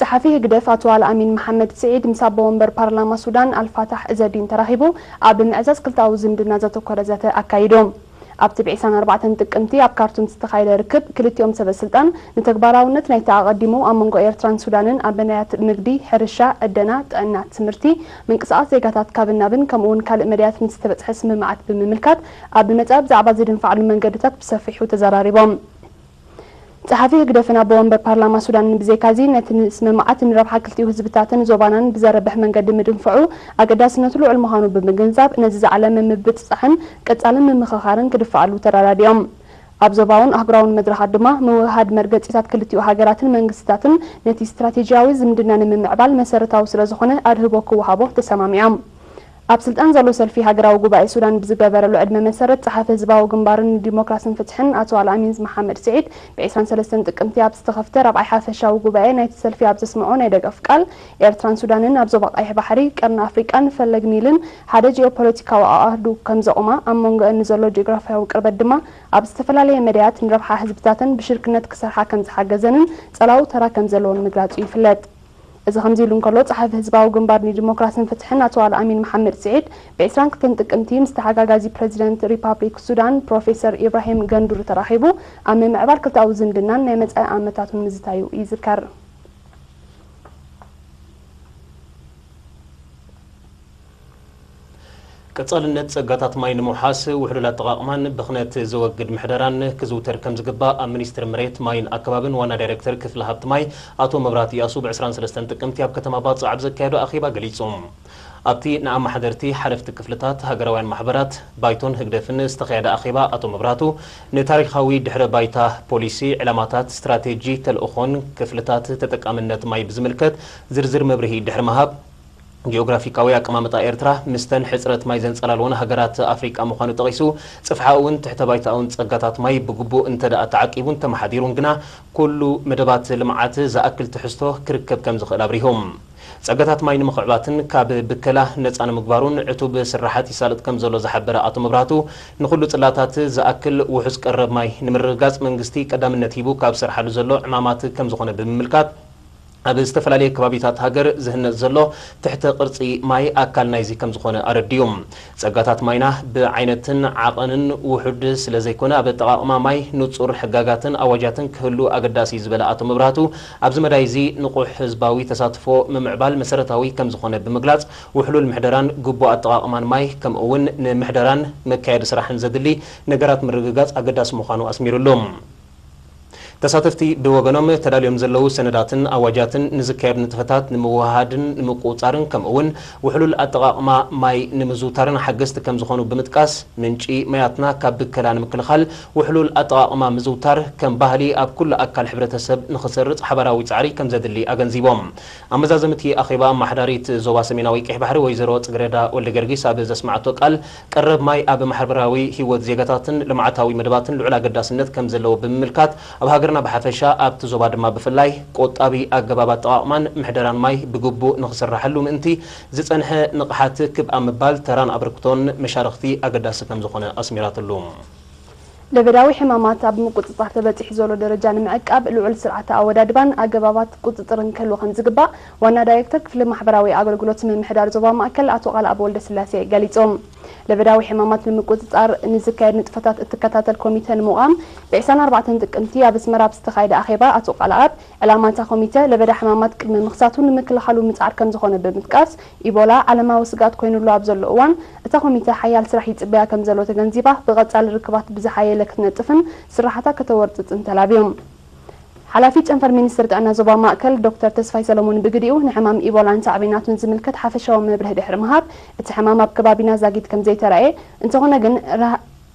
ጸሓፊ ህግደፍ ኣቶ ኣልኣሚን መሓመድ ስዒድ ምስ ኣቦ ወንበር ፓርላማ ሱዳን ኣልፋታሕ እዘዲን ተራኺቡ ኣብ ምዕዛዝ ክልተኣዊ ዝምድና ዘተኮረ ዘተ ኣካይዶም። ኣብቲ ብ ዕስራን ኣርባዕተን ጥቅምቲ ኣብ ካርቱም ዝተኻየደ ርክብ ክልቲኦም ሰበስልጣን ንተግባራውነት ናይቲ ኣቐዲሙ ኣብ መንጎ ኤርትራን ሱዳንን ኣብ መዳያት ንግዲ፣ ሕርሻ፣ ዕደና፣ ጥዕና፣ ትምህርቲ፣ ምንቅስቓስ ዜጋታት ካብን ናብን ከምኡ'ውን ካልእ መዳያት ንዝተበጽሐ ስምምዓት ብምምልካት ኣብ ብመጻኢ ብዛዕባ ዝድንፋዕሉ መንገድታት ብሰፊሑ ተዘራሪቦም። ጸሓፊ ህግደፍን ኣቦ ወንበር ፓርላማ ሱዳንን ብዘይካዚ፣ ነቲ ንስምምዓት ንረብሓ ክልቲኡ ህዝብታትን ዞባናን ብዘርብሕ መንገዲ ምድንፋዑ ኣገዳስነቱ ልዑል ምዃኑ ብምግንዛብ፣ ነዚ ዝዓለመ ምብጽጻሕን ቀጻሊ ምምኽኻርን ክድፋኣሉ ተረዳዲኦም። ኣብ ዞባውን ኣህጉራውን መድረኻት ድማ፣ ምውህሃድ መርገጺታት ክልቲኡ ሃገራትን መንግስትታትን ነቲ ስትራቴጂያዊ ዝምድና ንምምዕባል መሰረታዊ ስለዝኾነ ኣድህቦ ክወሃቦ ተሰማሚዖም። ኣብ ስልጣን ዘሎ ሰልፊ ሃገራዊ ጉባኤ ሱዳን ብዝገበረሉ ዕድመ መሰረት ጸሓፊ ህዝባዊ ግንባርን ንዲሞክራስን ፍትሕን ኣቶ ኣልኣሚንዝ መሓመድ ስዒድ ብዕስራን ሰለስተን ጥቅምቲ ኣብ ዝተኸፍተ ራብዓይ ሓፈሻዊ ጉባኤ ናይቲ ሰልፊ ኣብ ዘስመዖ ናይ ደገፍ ቃል ኤርትራን ሱዳንን ኣብ ዞባ ቀይሕ ባሕሪ፣ ቀርኒ ኣፍሪቃን ፈለግ ኒልን ሓደ ጂኦፖለቲካዊ ኣኣህዱ ከምዘቑማ ኣብ መንጎኤን ንዘሎ ጂኦግራፍያዊ ቅርበት ድማ ኣብ ዝተፈላለየ መዳያት ንረብሓ ህዝብታተን ብሽርክነት ክሰርሓ ከምዝሓገዘንን ጸላዊ ተራ ከምዘለዎን ምግላጹ ይፍለጥ። እዚ ከምዚ'ሉ እንከሎ፣ ጸሓፊ ህዝባዊ ግንባር ንዲሞክራስን ፍትሕን ኣቶ ኣልኣሚን መሓመድ ስዒድ፣ ብዕስራን ክልተን ጥቅምቲ ምስ ተሓጋጋዚ ፕረዚደንት ሪፓብሊክ ሱዳን ፕሮፌሰር ኢብራሂም ገንዱሪ ተራኺቡ ኣብ ምምዕባል ክልተኣዊ ዝምድናን ናይ መጻኢ ኣመታቱን ምዝታዩ ይዝከር። ቀፃልነት ፀጋታት ማይ ንምውሓስ ውሕሉል ኣጠቓቕማን ብኽነት ዘወግድ ምሕደራን ክዝውተር ከምዝግባእ ኣብ ሚኒስትሪ መሬት፣ ማይን ኣከባብን ዋና ዳይሬክተር ክፍሊ ሃብቲ ማይ ኣቶ መብራህቱ እያሱ ብ ዕስራን ሰለስተን ጥቅምቲ ኣብ ከተማ ባፅዕ ኣብ ዘካየዶ ኣኼባ ገሊፁ። ኣብቲ ንኣማሓደርቲ፣ ሓለፍቲ ክፍልታት፣ ሃገራውያን ማሕበራት፣ ባይቶን ህግደፍን ዝተኻየደ ኣኼባ ኣቶ መብራህቱ ንታሪኻዊ ድሕረ ባይታ፣ ፖሊሲ፣ ዕላማታት፣ ስትራቴጂ፣ ተልእኾን ክፍልታት ተጠቃምነት ማይ ብዝምልከት ዝርዝር መብርሂ ድሕሪ ምሃብ ጂኦግራፊካዊ ኣቀማምጣ ኤርትራ ምስተን ሕጽረት ማይ ዘንጸላልወን ሃገራት ኣፍሪቃ ምዃኑ ጠቒሱ፣ ጽፍሓኡውን ትሕተ-ባይታኡን ጸጋታት ማይ ብግቡእ እንተድኣ ተዓቂቡን ተመሓዲሩን ግና ኩሉ መደባት ልምዓት ዝኣክል ትሕዝቶ ክርከብ ከምዝኽእል ኣብሪሁ። ጸጋታት ማይ ንምኽዕባትን ካብ ብከላ ነጻ ንምግባሩን ዕቱብ ስርሓት ይሳለጥ ከምዘሎ ዝሓበረ ኣቶ መብራህቱ፣ ንኹሉ ጽላታት ዝኣክል ውሑስ ቀረብ ማይ ንምርግጋጽ መንግስቲ ቀዳምነት ሂቡ ካብ ዝሰርሓሉ ዘሎ ዕማማት ከምዝኾነ ብምምልካት፣ ኣብ ዝተፈላለየ ከባቢታት ሃገር ዝህነጽ ዘሎ ትሕተ ቅርጺ ማይ ኣካል ናይዚ ከምዝኾነ ኣረዲኡ። ጸጋታት ማይና ብዓይነትን ዓቐንን ውሑድ ስለዘይኮነ ኣብ ኣጠቓቕማ ማይ ንጹር ሕጋጋትን ኣዋጃትን ክህሉ ኣገዳሲ'ዩ ዝበለ ኣቶ መብራህቱ ኣብዚ መዳይ እዚ ንቑሕ ህዝባዊ ተሳትፎ ምምዕባል መሰረታዊ ከምዝኾነ ብምግላጽ ውሕሉል ምሕደራን ግቡእ ኣጠቓቕማን ማይ ከምኡ'ውን ንምሕደራን መካየዲ ስራሕን ዘድሊ ነገራት ምርግጋጽ ኣገዳሲ ምዃኑ ኣስሚርሉ። ተሳተፍቲ ብወገኖም ተዳልዮም ዘለዉ ሰነዳትን ኣዋጃትን ንዝካየዱ ንጥፈታት ንምውህሃድን ንምቁፅፃርን ከምኡ እውን ውሕሉል ኣጠቓቕማ ማይ ንምዝውታርን ሓገዝቲ ከምዝኾኑ ብምጥቃስ ምንጪ ማያትና ካብ ብከላ ንምክልኻል ውሕሉል ኣጠቓቕማ ምዝውታር ከም ባህሊ ኣብ ኩሉ ኣካል ሕብረተሰብ ንኽሰርፅ ሓባራዊ ፃዕሪ ከምዘድሊ ኣገንዚቦም። ኣመዛዘሚ እቲ ኣኼባ ኣማሓዳሪት ዞባ ሰሜናዊ ቀይሕ ባሕሪ ወይዘሮ ፅግሬዳ ወልደገርጊስ ኣብ ዘስመዓቶ ቃል ቀረብ ማይ ኣብ ማሕበራዊ ህይወት ዜጋታትን ልምዓታዊ መደባትን ልዑል ኣገዳስነት ከም ዘለዎ ብምምልካት፣ ኣብ ሃገርና ብሓፈሻ ኣብቲ ዞባ ድማ ብፍላይ ቆጣቢ ኣገባብ ኣጠቓቕማን ምሕደራን ማይ ብግቡእ ንኽስራሓሉ ምእንቲ ዝፀንሐ ንቕሓት ክብ ኣብ ምባል ተራን ኣበርክቶን መሻርኽቲ ኣገዳሲ ከም ዝኾነ ኣስሚራትሉ። ለበዳዊ ሕማማት ኣብ ምቁጽጻር ተበጺሑ ዘሎ ደረጃ ንምዕቃብ ልዑል ስርዓተ ኣወዳድባን ኣገባባት ቁጽጽርን ክህሉ ከምዝግባእ ዋና ዳይሬክተር ክፍሊ ማሕበራዊ ኣገልግሎት ምምሕዳር ዞባ ማእከል ኣቶ ቃልኣብ ወልደስላሴ ገሊጾም። ለበዳዊ ሕማማት ንምቁጽጻር ንዝካየድ ንጥፈታት እትከታተል ኮሚተ ንምቛም ብ ዕስራን ኣርባዕተን ጥቅምቲ ኣብ ኣስመራ ኣብ ዝተኻየደ ኣኼባ ኣቶ ቃልኣብ ዕላማ እታ ኮሚተ ለበዳ ሕማማት ቅድሚ ምኽሳቱ ንምክልኻሉ ምጽዓር ከምዝኾነ ብምጥቃስ ኢቦላ ዓለማዊ ስግኣት ኮይኑሉ ኣብ ዘሎ እዋን፣ እታ ኮሚተ ሓያል ስራሕ ይጽበያ ከም ዘሎ ተገንዚባ፣ ብቐጻሊ ርክባት ብዝሓየለ ክትነጥፍን ስርሓታ ከተወርጽጽን ተላብዩ። ሓላፊ ጨንፈር ሚኒስትሪ ጥዕና ዞባ ማእከል ዶክተር ተስፋይ ሰለሙን ብግዲኡ፣ ንሕማም ኢቦላን ሳዕቤናቱን ዝምልከት ሓፈሻዊ መብርሂ ድሕሪ ምሃብ፣ እቲ ሕማም ኣብ ከባቢና ዛጊት ከም ዘይተራእየ፣ እንተኾነ ግን፣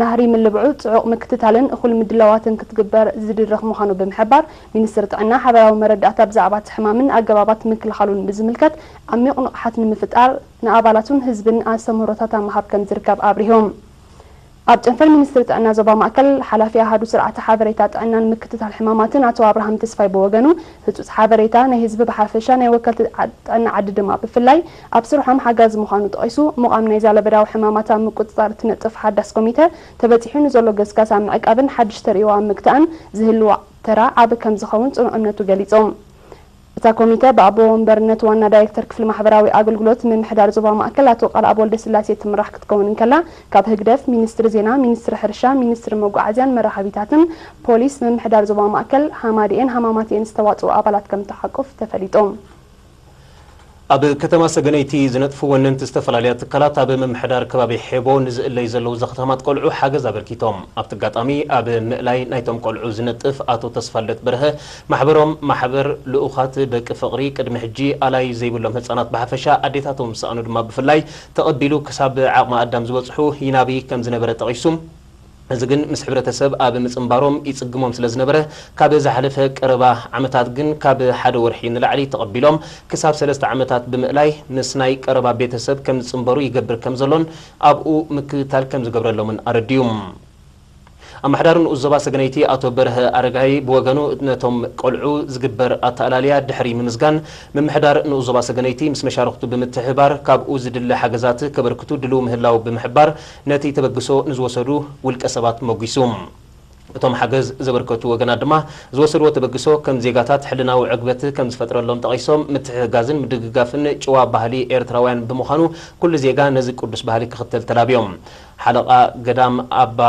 ናህሪ ምልብዑ ፅዑቕ ምክትታልን እኹል ምድላዋትን ክትግበር ዝድርኽ ምዃኑ ብምሕባር፣ ሚኒስትሪ ጥዕና ሓበራዊ መረዳእታ ብዛዕባ እቲ ሕማምን ኣገባባት ምክልኻሉን ብዝምልከት ዓሚቕ ንቕሓት ንምፍጣር ንኣባላቱን ህዝብን ኣስተምህሮታት ኣብ ምሃብ ከምዝርከብ ኣብሪሆም። ኣብ ጨንፈር ሚኒስትሪ ጥዕና ዞባ ማእከል ሓላፊ ኣሃዱ ስርዓተ ሓበሬታ ጥዕናን ምክትታል ሕማማትን ኣቶ ኣብርሃም ተስፋይ ብወገኑ፣ ህፁፅ ሓበሬታ ናይ ህዝቢ ብሓፈሻ ናይ ወከልቲ ጥዕና ዓዲ ድማ ብፍላይ፣ ኣብ ስርሖም ሓጋዚ ምዃኑ ጠቒሱ፣ ምቛም ናይዛ ለበዳዊ ሕማማት ኣብ ምቁጽጻር እትነጥፍ ሓዳስ ኮሚተ፣ ተበጺሑ ንዘሎ ገስጋስ ኣብ ምዕቃብን ሓድሽ ተርእዮ ኣብ ምግታእን ዝህልዎ ተራ ዓቢ ከምዝኸውን ጽኑዕ እምነቱ ገሊጹ። እታ ኮሚተ ብኣቦ ወንበርነት ዋና ዳይረክተር ክፍሊ ማሕበራዊ ኣገልግሎት ምምሕዳር ዞባ ማእከል ኣቶ ቃልኣብ ወልደስላሴ እትምራሕ ክትከውን እንከላ፣ ካብ ህግደፍ፣ ሚኒስትሪ ዜና፣ ሚኒስትሪ ሕርሻ፣ ሚኒስትሪ መጓዓዝያን መራኸቢታትን፣ ፖሊስ፣ ምምሕዳር ዞባ ማእከል፣ ሃማደኤን ሃማማተኤን ዝተዋጽኡ ኣባላት ከምትሓቁፍ ተፈሊጡ። ኣብ ከተማ ሰገነይቲ ዝነጥፉ ወነንቲ ዝተፈላለያ ትካላት ኣብ ምምሕዳር ከባቢ ሔቦ ንዝእለዩ ዘለዉ ዘኽታማት ቆልዑ ሓገዝ ኣበርኪቶም። ኣብቲ ኣጋጣሚ ኣብ ምእላይ ናይቶም ቆልዑ ዝነጥፍ ኣቶ ተስፋልደት በርሀ ማሕበሮም ማሕበር ልኡኻት ደቂ ፍቕሪ ቅድሚ ሕጂ ኣላዪ ዘይብሎም ህጻናት ብሓፈሻ ኣዴታቶም ዝሰኣኑ ድማ ብፍላይ ተቐቢሉ ክሳብ ዓቕመ ኣዳም ዝበጽሑ ይናቢ ከምዝነበረ ጠቒሱ እዚ ግን ምስ ሕብረተሰብ ኣብ ምጽንባሮም ይጽግሞም ስለ ዝነበረ፣ ካብ ዝሓለፈ ቀረባ ዓመታት ግን ካብ ሓደ ወርሒ ንላዕሊ ተቐቢሎም ክሳብ ሰለስተ ዓመታት ብምእላይ ምስ ናይ ቀረባ ቤተሰብ ከም ዝጽንበሩ ይገብር ከም ዘሎን ኣብኡ ምክትታል ከም ዝገብረሎምን ኣረዲኡ። ኣመሓዳሪ ንኡስ ዞባ ሰገነይቲ ኣቶ በርሀ ኣረጋይ ብወገኑ ነቶም ቆልዑ ዝግበር ኣተኣላልያ ድሕሪ ምምዝጋን ምምሕዳር ንኡስ ዞባ ሰገነይቲ ምስ መሻርኽቱ ብምትሕብባር ካብኡ ዝድለ ሓገዛት ከበርክቱ ድሉው ምህላው ብምሕባር ነቲ ተበግሶ ንዝወሰዱ ውልቀ ሰባት ሞጒሱ። እቶም ሓገዝ ዘበርከቱ ወገናት ድማ ዝወሰድዎ ተበግሶ ከም ዜጋታት ሕልናዊ ዕግበት ከም ዝፈጥረሎም ጠቒሶም፣ ምትሕግጋዝን ምድግጋፍን ጭዋ ባህሊ ኤርትራውያን ብምዃኑ ኩሉ ዜጋ ነዚ ቅዱስ ባህሊ ክኽተል ተላብዮም። ሓለቓ ገዳም ኣባ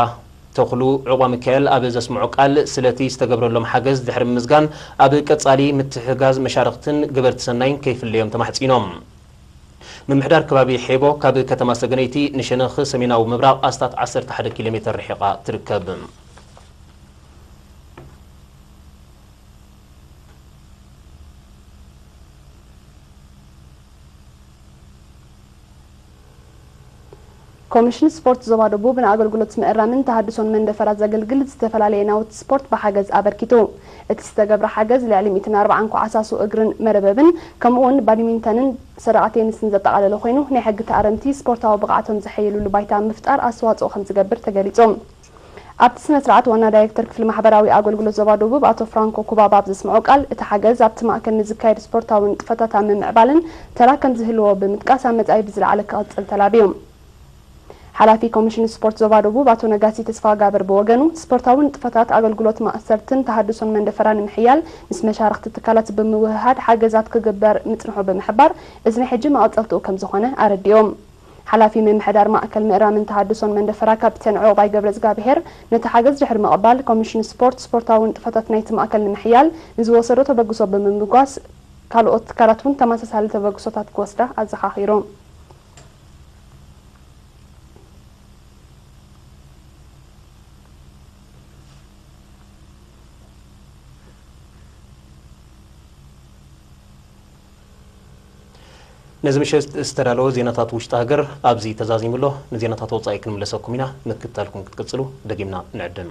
ተኽሉ ዑቕባሚካኤል ኣብ ዘስምዖ ቃል ስለቲ ዝተገብረሎም ሓገዝ ድሕሪ ምምስጋን፣ ኣብ ቀጻሊ ምትሕግጋዝ መሻርኽትን ገበርቲ ሰናይን ከይፍለዮም ተማሕጺኖም። ምምሕዳር ከባቢ ሔቦ ካብ ከተማ ሰገነይቲ ንሸነኽ ሰሜናዊ ምብራቕ ኣስታት ዓሰርተ ሓደ ኪሎ ሜተር ርሒቓ ትርከብ። ኮሚሽን ስፖርት ዞባ ደቡብ ንኣገልግሎት ምእራምን ተሃድሶን መንደፈራ ዘገልግል ዝተፈላለየ ናውቲ ስፖርት ብሓገዝ ኣበርኪቱ። እቲ ዝተገብረ ሓገዝ ልዕሊ ሚእትን ኣርባዓን ኩዓሳሱ እግርን መርበብን ከምኡ እውን ባዲሚንተንን ሰደቓ ቴንስን ዘጠቓለለ ኮይኑ ናይ ሕጊ ተኣረምቲ ስፖርታዊ ብቕዓቶም ዘሐይልሉ ባይታ ኣብ ምፍጣር ኣስተዋፅኦ ከምዝገብር ተገሊፁ። ኣብቲ ስነስርዓት ዋና ዳይሬክተር ክፍሊ ማሕበራዊ ኣገልግሎት ዞባ ደቡብ ኣቶ ፍራንኮ ኩባባ ኣብ ዘስምዖ ቃል፣ እቲ ሓገዝ ኣብቲ ማእከል ንዝካየድ ስፖርታዊ ንጥፈታት ኣብ ምምዕባልን ተራ ከምዝህልዎ ብምጥቃስ ኣብ መጻኢ ብዝለዓለ ክቕጽል ተላብዩ። ሓላፊ ኮሚሽን ስፖርት ዞባ ደቡብ ኣቶ ነጋሲ ተስፋጋብር ብወገኑ፣ ስፖርታዊ ንጥፈታት ኣገልግሎት ማእሰርትን ተሃድሶን መንደፈራ ንምሕያል ምስ መሻርኽቲ ትካላት ብምውህሃድ ሓገዛት ክግበር ምጽንሑ ብምሕባር፣ እዚ ናይ ሕጂ መቐጸልትኡ ከምዝኾነ ኣረዲኡ። ሓላፊ ምምሕዳር ማእከል ምእራምን ተሃድሶን መንደፈራ ካፒተን ዑቕባይ ገብረዝጋብሄር፣ ነቲ ሓገዝ ድሕሪ ምቕባል፣ ኮሚሽን ስፖርት፣ ስፖርታዊ ንጥፈታት ናይቲ ማእከል ንምሕያል ንዝወሰዶ ተበግሶ ብምምጓስ፣ ካልኦት ትካላት እውን ተመሳሳሊ ተበግሶታት ክወስዳ ኣዘኻኺሩ። ነዚ ምሸት ዝተዳለወ ዜናታት ውሽጢ ሃገር ኣብዚ ተዛዚሙ ኣሎ። ንዜናታት ወጻኢ ክንምለሰኩም ኢና፣ ምክትታልኩም ክትቅጽሉ ደጊምና ንዕድም።